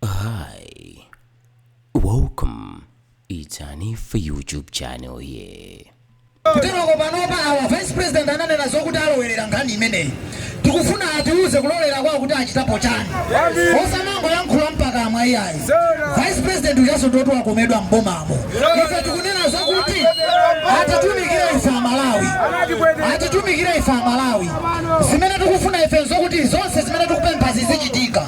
Hi, welcome. It's Hanifa YouTube channel here. kuteroko panopa awa vice president ananena zokuti alowerera nkhani imeneyi tikufuna atiuze kulolera kwawo kuti achitapo chani osamangoyankhula mpakamwa iyayi vice president ujaso ndoti wakomedwa mbomamo ife tikunena zokuti atitumikire ife amalawi atitumikire ife amalawi zimene tikufuna ife zokuti zonse zimene tikupempha zizichitika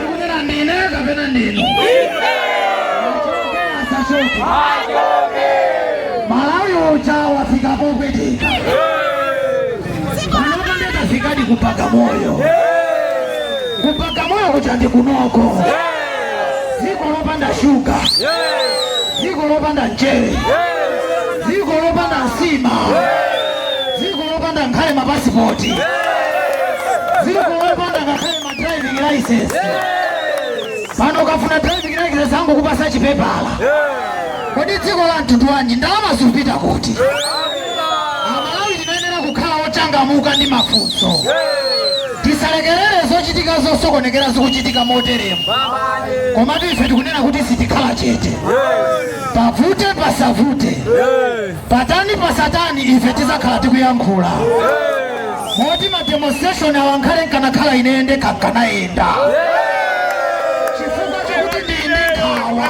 Kunena ndine kapena ndinu? Achoke asachoke. Malawi uja wafika popweteka. Panopa ndakafikadi kubagamoyo. Kubagamoyo kuja ndi kunoko. Dziko lopanda shuga. Dziko lopanda mchere. Dziko lopanda nsima. Dziko lopanda nkhale mapasipoti. Dziko lopanda ngakhale driving license pano ukafuna driving license angokupasa chipepala kodi dziko la mtundu wanji ndalama zikupita kuti amalawi tinayenera kukhala ochangamuka ndi mafunso tisalekerere zochitika zosokonekera zikuchitika moteremu koma ife tikunena kuti sitikhala chete pavute pasavute Patani pasatani ife tizakhala tikuyankhula moti ma demonstration awa nkhale nkanakhala ine ndekha nkanayenda chifukwa chokuti ndili ndi nkhawa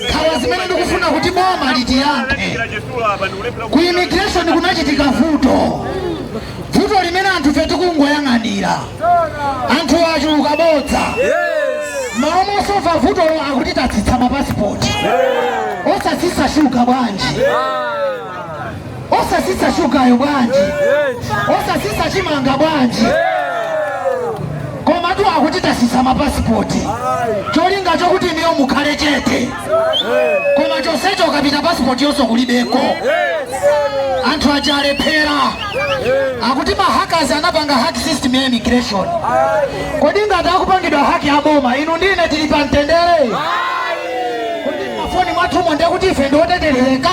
nkhawa zimene ndikufuna kuti boma litiyankhe ku immigration kunachitika vuto vuto limene anthufe tikungoyang'anira anthu achuluka bodza malo mosolva vutolo akuti tatsitsa mapasipoti osatsitsa shuga bwanji osatsitsa shugayo bwanji osatsitsa chimanga bwanji komatu akuti tatsitsa mapasipoti cholinga chokuti inuyo mukhale chete koma chonsecho ukapita pasipotiyonso kulibeko anthu aja alephera akuti mahakazi anapanga hack system ya immigration kodi ngati akupangidwa haki a boma inu ndi ine tili pa mtendere kodi mafoni mwathumo ndiye kuti ife ndioteterereka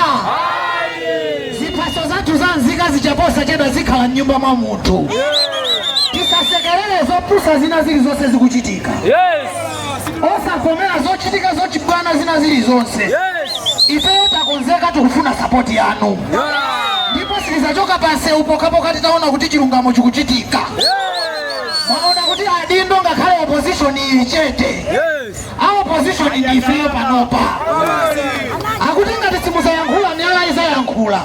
ziphaso zathu za nzika zija posachedwa zikhala mnyumba mwa munthu tisasekerere zopusa zina zilizonse zikuchitika osavomera zochitika zochibwana zina zili zonse ifeyo takonzeka tikufuna sapoti yanu ndipo sitizachoka pamsewu pokhapokha titaona kuti chilungamo chikuchitika mwaona kuti adindo ngakhale opposition ili chete a opposition ndi ifeyo panopa akuti ngati simuzayankhula miyala izayankhula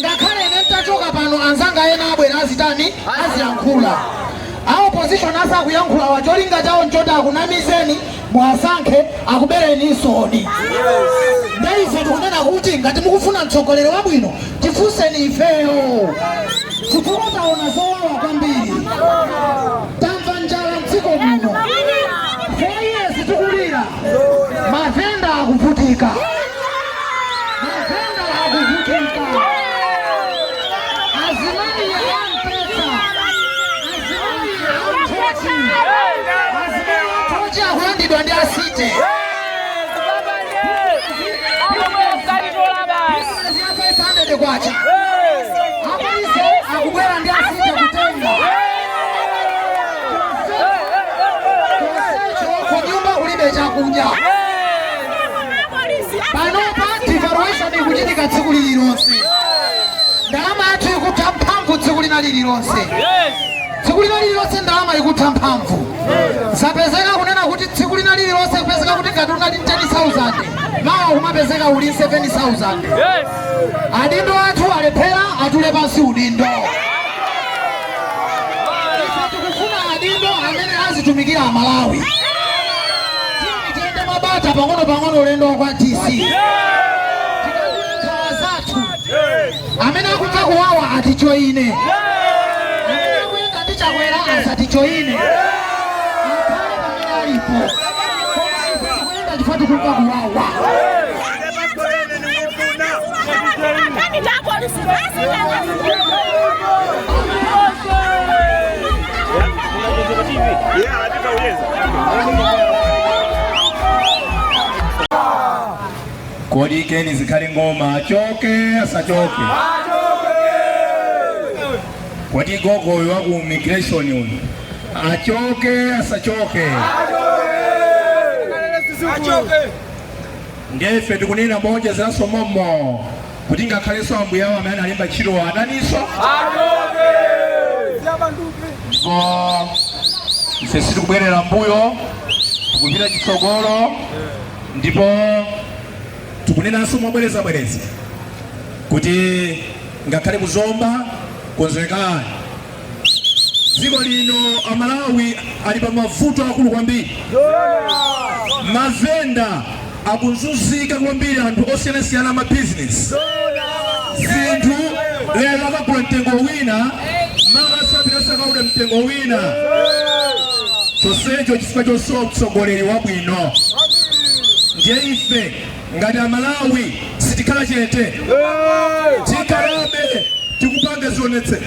ngakhale ine nditachoka pano anzanga ena abwera azitani aziyankhula A opposition asakuyankhulawa cholinga chawo nchoti akunamizeni muwasankhe akubereninsoni. Nde ife tikunena kuti ngati mukufuna mtsogoleri wabwino tifunseni ifeyo chifukwa taona zowawa kwambiri, tamva njala mdziko muno, 4 years tikulira Mavenda akuvutika, mavenda akuvutika, azimayi a mphesa, azimayi a nthochi, azimayi a nthochi akulandidwa ndi a city ziyapesandede kwacha apolisi akubwera ndi a city kutenga chonsecho kunyumba kulibe chakudya panopa devaluation ikuchitika tsiku lililonse ndalama yathu ikutha mphamvu tsiku lina lililonse tsiku lina lililonse ndalama ikutha mphamvu zapezeka kunena kuti tsiku lina lililonse kupezeka kuti ngati unali 10000 mawa kumapezeka uli 7000 adindo athu alephera atule pansi udindo azitumikira Amalawi. Tiyende mwabata pang'ono pang'ono ulendo wa kwa DC tikakhala anzathu amene akumva kuwawa atijoine amene akuyenda ndi Chakwera asatijoine akhale pamene alipo koma ife tikuyenda chifukwa tikumva kuwawa Thank you. Kodi Ken Zikhale Ng'oma achoke asachoke? Kodi gogo uyu wa ku immigration uyu achoke asachoke? Achoke. Ndiye ife tikunena moonjezeranso mommo kuti ngakhalenso ambuye awo amene analemba ntchitowo ataninso? Achoke! Ndipo ife sitikubwerera m'mbuyo, tikupita chitsogolo ndipo tikunenanso mobwerezabwereza kuti ngakhale ku Zomba konzekani. Dziko lino Amalawi ali pa mavuto akulu kwambiri, mavenda akuzunzika kwambiri, anthu osiyanasiyana a ma business zinthu lero akagula mtengo wina mawa akapita akaoda mtengo wina chonsecho chifukwa chosowa mtsogoleri wabwino. Ndiye ife ngati Amalawi sitikhala chete, tikhalabe tikupanga zionetsero.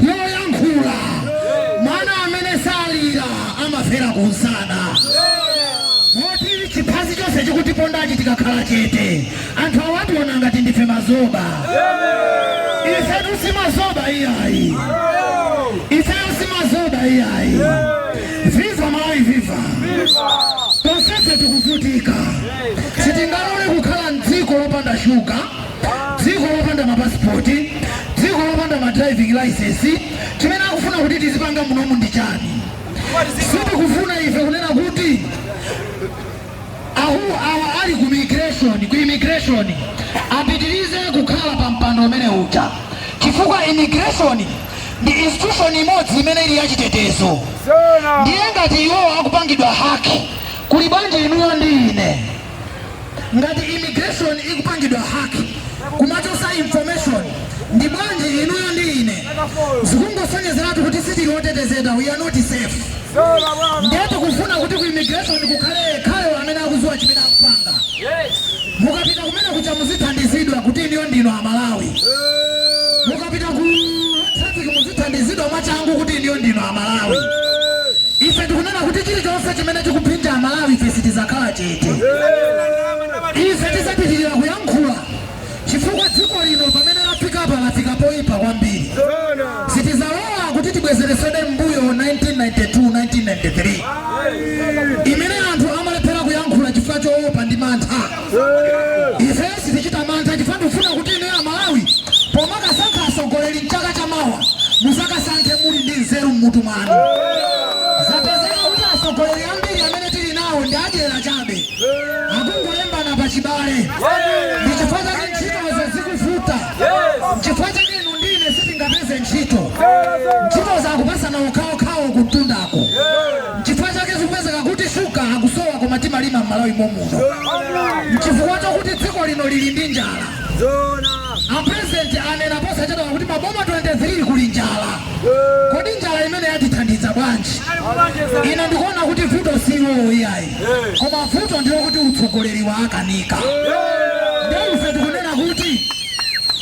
yoyankhula mwana amene salira amafera kunsana moti chiphazi chonse chikutipondachi tikakhala chete anthu awationa ngati ndife mazoba ifetu si mazoba iyayi ifeyo si mazoba iyayi viva malawi viva tonsefe tikuvutika sitingalole kukhala mdziko lopanda shuga dziko lopanda mapasipoti dziko lopanda ma driving license chimene akufuna kuti tizipanga munomu ndi chani sitikufuna ife kunena kuti anthu awa ali ku migration ku immigration apitirize kukhala pa mpando umene uja chifukwa immigration ndi institution imodzi imene ili yachitetezo ndiye ngati iwowo akupangidwa haki kuli bwanji inuyo ndi ine Ngati immigration ikupangidwa hack kumachosa information ndi bwanji inuyo ndi ine zikungosonyezeratu kuti sitili otetezedwa we are not safe ndiye tikufuna kuti ku immigration kukhale yekhayo amene akuziwa chimene akupanga mukapita kumene kuja muzithandizidwa kuti inuyo ndinu amalawi Mukapita ku traffic muzithandizidwa mwachangu kuti inuyo ndinu a Malawi. Ife tikunena kuti chilichonse chimene chikuphinja a Malawi ife sitizakhala chete. Ife tizapitilira kuyankhula chifukwa dziko lino pamene lafikapa lafika poyipa kwambiri. Sitizalola kuti tibwezeresede mmbuyo 1992, 1993 imene anthu amalephera kuyankhula chifukwa choopa ndi mantha. ife sitichita mantha chifukwa tikufuna kuti inu amalawi pomakasankha atsogoleri mchaka cha mawa muzakasankhe muli ndi nzeru mmutu mwanu zapezeka kuti atsogoleri ambiri amene tili nawo ndi adyera chabe akungolembana pa chibale ndi chifukwa chake ntchitozo zikuvuta chifukwa chake inu ndine sitingapeze ntchito ntchito zakupasana okhaokhawo kumtundako Nchifukwa chake zikupezeka kuti shuga akusowa koma timalima m'Malawi momuno. Nchifukwa chokuti dziko lino lili ndi njala. A President anena posachedwapa kuti maboma 23 kuli njala. Kodi njala imene yatithandiza bwanji? Ine ndikuona kuti vuto si iwowo iyayi, koma vuto ndilokuti utsogoleri waakanika. Nde ife tikunena kuti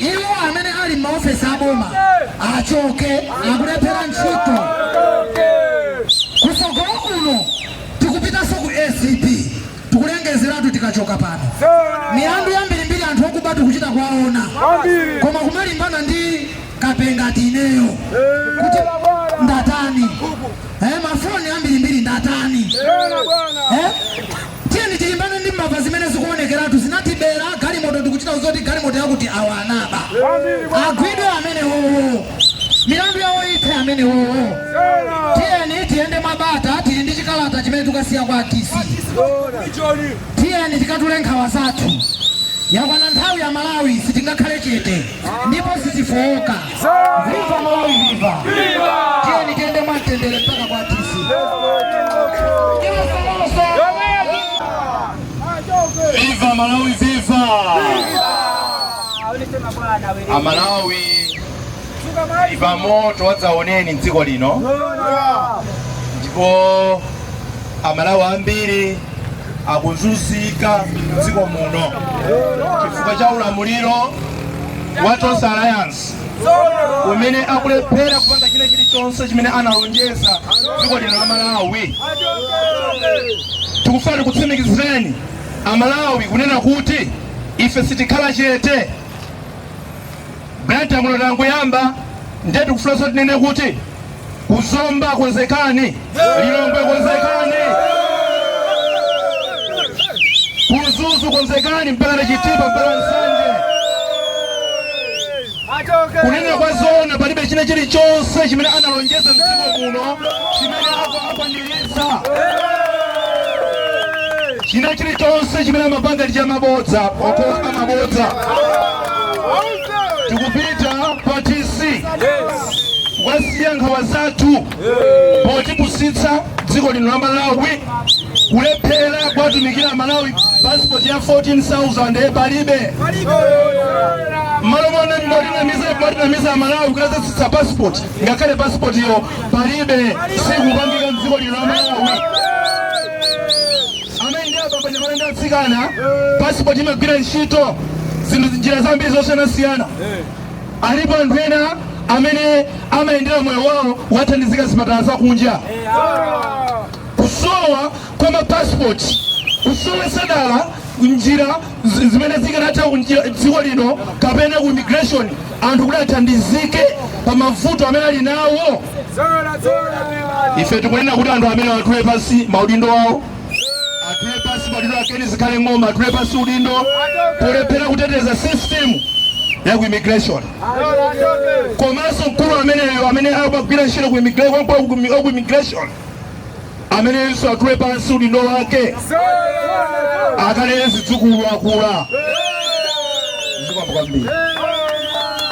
Iwo amene ali m'maofesi a boma achoke, akulephera ntchito. Kutsogolo kuno tikupitanso ku acb, tikulengezeratu tikachoka pano. Milandu yambirimbiri anthu okuba tikuchita kuwaona, koma kumalimbana ndi kape ngati ineyo kuti ndatani? Eh, mafoni ambirimbiri ndatani? Eh? Tiyeni tilimbane ndi mbava zimene zikuonekeratu zinatibera galimoto tikuchita zoti galimoto yakuti awa anaba. Agwidwe amenewowo. Milandu yawo ithe amenewowo. Tiyeni tiyende mwabata tili ndi chikalata chimene tikasiya kwa DC. Tiyeni tikatule nkhawa zathu. Yakwana nthawi ya Malawi sitingakhale chete ndipo sitifowoka. Viva Malawi viva. Tiyeni tiende mwantendele mpaka kwa tisi. Kila salamu sana. Viva Malawi viva. Amalawi viva moto wadzaoneni mdziko lino ndipo amalawi ambiri akuzunzika mdziko muno chifukwa cha ulamuliro wa Tonse Alliance umene akulephera kupanga china chilichonse chimene analonjeza dziko lino la Malawi. Tikufuna tikutsimikizireni Amalawi kunena kuti ife sitikhala chete. Blantyre muno tangoyamba ndiye tikufunanso tinene kuti Ku Zomba konzekani, Lilongwe konzekani, ku Mzuzu konzekani, mpakana Chitipa mpaka Nsanje. Kunena kwa zoona, palibe china chilichonse chimene analonjeza mdziko muno chimene akwanilitsa china chilichonse chimene amapanga ndi chamabodza okhaokha mabodza tikupita pa DC kukasiya nkhawa zathu potipusitsa dziko lino la malawi kulephera kuwatumikira amalawi pasipoti ya 14000 palibe mmalo mone mmotinamiza mmotinamiza amalawi kudzatsitsa pasipoti ngakhale pasipotiyo palibe sikupangika mdziko lino la malawi amayi ndi abambo anyamata ndi atsikana pasipoti imagwira ntchito zinthu njira zambiri zosiyanasiyana Alipo anthu ena amene amayenera moyo wawo kukathandizika zipatala zakunja kusowa kwa mapasipoti kusowesa dala njira zi- zimene zikanatha kunjira- dziko lino kapena ku immigration anthu kuti athandizike pa mavuto amene ali nawo ife tikunena kuti anthu amenewa atule pansi maudindo awo atule pansi maudindo a Ken Zikhale Ng'oma atule pansi udindo polephera kuteteza system ya ku immigration komanso mkulu ameneyo amene amagwira ntchito ku immigra- kwa- kwa- ku- ku immigration ameneyonso atule pansi udindo wake akalere zidzukulu akula zikomo kwambiri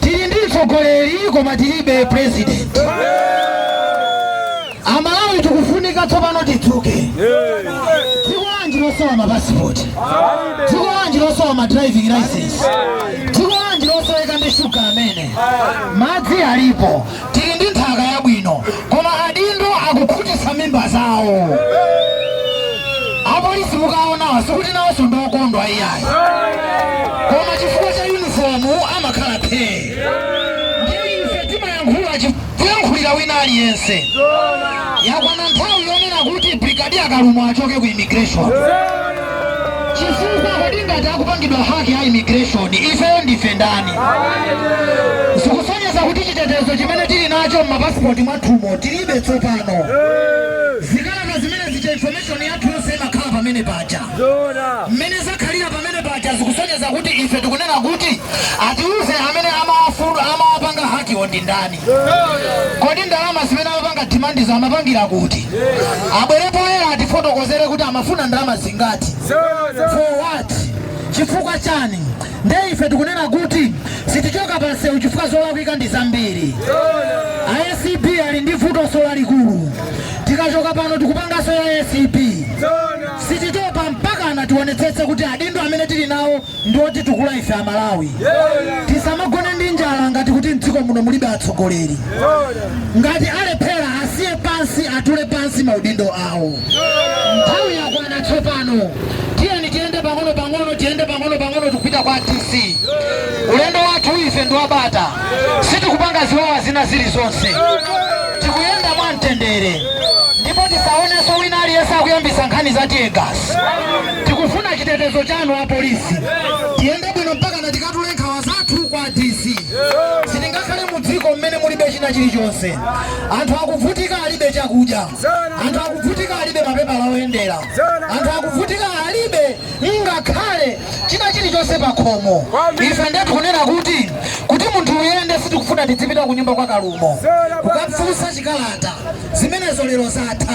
tili ndi mtsogoleri koma tilibe president amalawi tikufunika tsopano tidzuke dziko lanji losowa mapasipoti dziko lanji losowa ma driving license dziko lanji losoweka ndi shuga amene madzi alipo tili ndi nthaka yabwino koma adindo akukhutitsa mimba zawo apolisi mukawaona sikuti nawonso ndi okondwa iyayi koma chifukwa cha yunifomu amakhala phee ndiye ife timayankhula chi- kuyankhulira wina aliyense yakwana nthawi yonena kuti brigadier kalumo achoke ku immigration chifukwa kodi ngati akupangidwa haki ya immigration ifeyo ndife ndani zikusonyeza kuti chitetezo chimene tili nacho m'mapasipoti mwathumo tilibe tsopano zikalata zimene zicha information yathu yonse imakhala pamene paja mmene zakhalira pamene paja zikusonyeza kuti ife tikunena kuti atiuze amene amawafuna amawapanga hakiwo ndi ndani kodi ndalama zimene amapanga dimandizo amapangira kuti abwere poyera atifotokozere kuti amafuna ndalama zingati for what chifukwa chani nde ife tikunena kuti sitichoka pansewu chifukwa zolakwika ndi zambiri acb ali ndi vutoso lalikulu tikachoka pano tikupanganso ya acb sititopa mpaka tiwonetsetse kuti adindo amene tili nawo ndi otitukula ife amalawi tisamagone ndi njala ngati kuti mdziko muno mulibe atsogoleri ngati alephera asiye pansi atule pansi maudindo awo nthawi yakwana tsopano tiyeni tiyende pang'ono pang'ono tiyende pang'ono pang'ono tikupita kwa dc ulendo wathu ife ndi wabata sitikupanga ziwawa zina zilizonse tikuyenda mwa mtendere ndipo tisaonenso wina aliyense akuyambisa nkhani za tiyegasi Tikufuna chitetezo chanu a police. Tiyende bwino mpakana tikatule nkhawa zathu kwa DC. Sitingakhale mu dziko mmene mulibe china chilichonse. Anthu akuvutika alibe chakudya. Anthu akuvutika alibe mapepala oyendera. Anthu akuvutika alibe ngakhale china chilichonse pa khomo. Ife nde tikunena kuti kuti munthu uyende sitikufuna tidzipita ku nyumba kwa Kalumo. Kukafunsa chikalata. Zimenezo lero zatha.